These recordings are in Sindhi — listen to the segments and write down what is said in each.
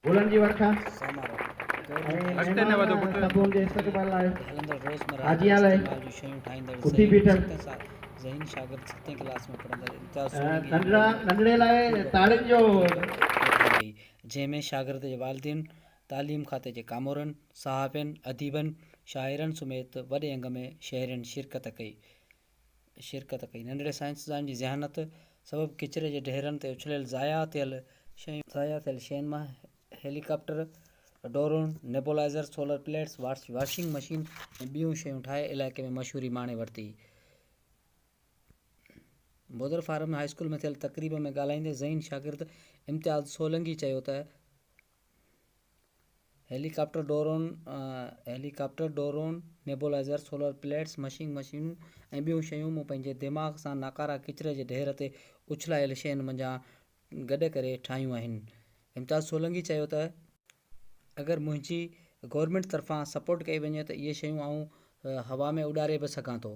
گلن جي ورکا ۽ مهمان سڀون جي استقبال لاء حاجيان لاء اٿي بيٺل ننڍڙا ننڍڙي لاء تاڙين جو جنهن ۾ شاگرد جي والدين، تعليم کاتي جي ڪامورن، صحافين، اديبن، شاعرن سميت وڏي انگ ۾ شهرين شرڪت ڪئي. شرڪت ڪئي. ننڍڙي سائنسدان جي ذهانت سبب ڪچري جي ڍيرن تي اڇليل ضايع ٿيل شيون، ضايع ٿيل شين مان helicopter, drone, nebulizer, solar plates, washing machine ۽ ٻيون شيون ٺاهي علائقي ۾ مشهوري ماڻي ورتي. بودر فارم هاء اسڪول ۾ ٿيل تقريب ۾ ڳالهائيندي ذهين شاگرد امتياز سولنگي چيو ته helicopter drone, helicopter drone, nebulizer, solar plates, مشينگ مشينون ۽ ٻيون شيون مون پنهنجي دماغ سان ناڪاره ڪچري جي ڍير تي اڇلايل شين منجهان گڏ ڪري ٺاهيون آهن. امتياز سولنگي چيو ته. اگر منهنجي گورنمينٽ طرفان سپورٽ ڪئي وڃي ته اهي شيون آئون هوا ۾ اڏاري به سگهان ٿو.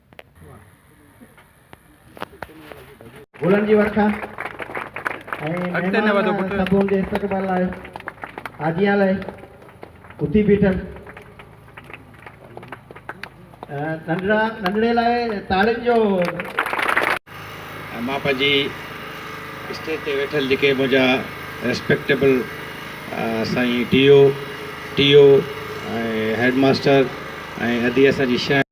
گلن جي ورکا ۽ مهمان صاحبن جي استقبال لاء آجيان لاء اٿي بيٺل ننڍڙا ننڍڙي لاء تاڙين جو مان پنهنجي اسٽيج تي ويٺل جيڪي منهنجا ريسپيڪٽيبل سائين D O T O ۽ head master ۽ ادي اسان جي شهر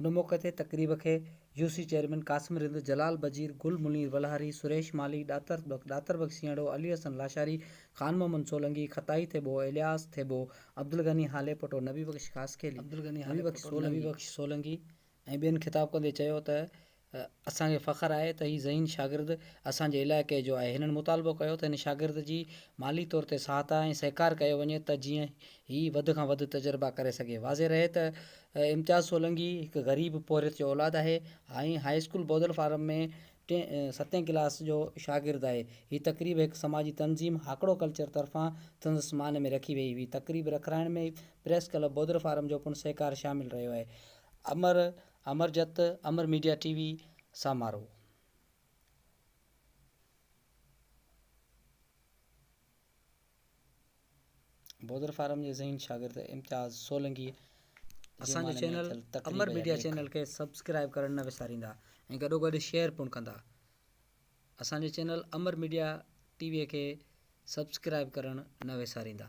ان موقعي تي تقريب کي U C chairman Qasim Rind, Jalal Bajeer, Gul Munir Walhari, Suresh Malhi, Datar Bakhsh, ڏاتر بخش سينئڙو، علي حسن لاشاري، خان محمد سولنگي، خطائي ٿيٻو، الياس ٿيٻو، عبدالغني هالي پٽو، نبي بخش خاصخيلي، نبي بخش سولنگي ۽ ٻين خطاب ڪندي چيو ته اسان کي فخر آهي ته هي ذهين شاگرد اسان جي علائقي جو آهي، هنن مطالبو ڪيو ته هن شاگرد جي مالي طور تي سهائتا ۽ سهڪار ڪيو وڃي ته جيئن هي وڌ کان وڌ تجربا ڪري سگهي، واضح رهي ته امتياز سولنگي هڪ غريب پورهيت جو اولاد آهي ۽ هاء اسڪول بودل فارم ۾ ٽين ستين ڪلاس جو شاگرد آهي، هي تقريب هڪ سماجي تنظيم هاڪڙو ڪلچر طرفان سندس مان ۾ رکي وئي هئي، تقريب رکرائڻ ۾ پريس ڪلب بودل فارم جو پڻ سهڪار شامل رهيو آهي، امر امر جت امر ميڊيا ٽي وي سان مارو. بودر فارم جي ذهين شاگرد امتياز سولنگي اسان جو چينل امر ميڊيا چينل کي سبسڪرائب ڪرڻ نه وساريندا ۽ گڏو گڏ شيئر پڻ ڪندا اسان جي channel Amar media T V کي سبسڪرائب ڪرڻ نه وساريندا.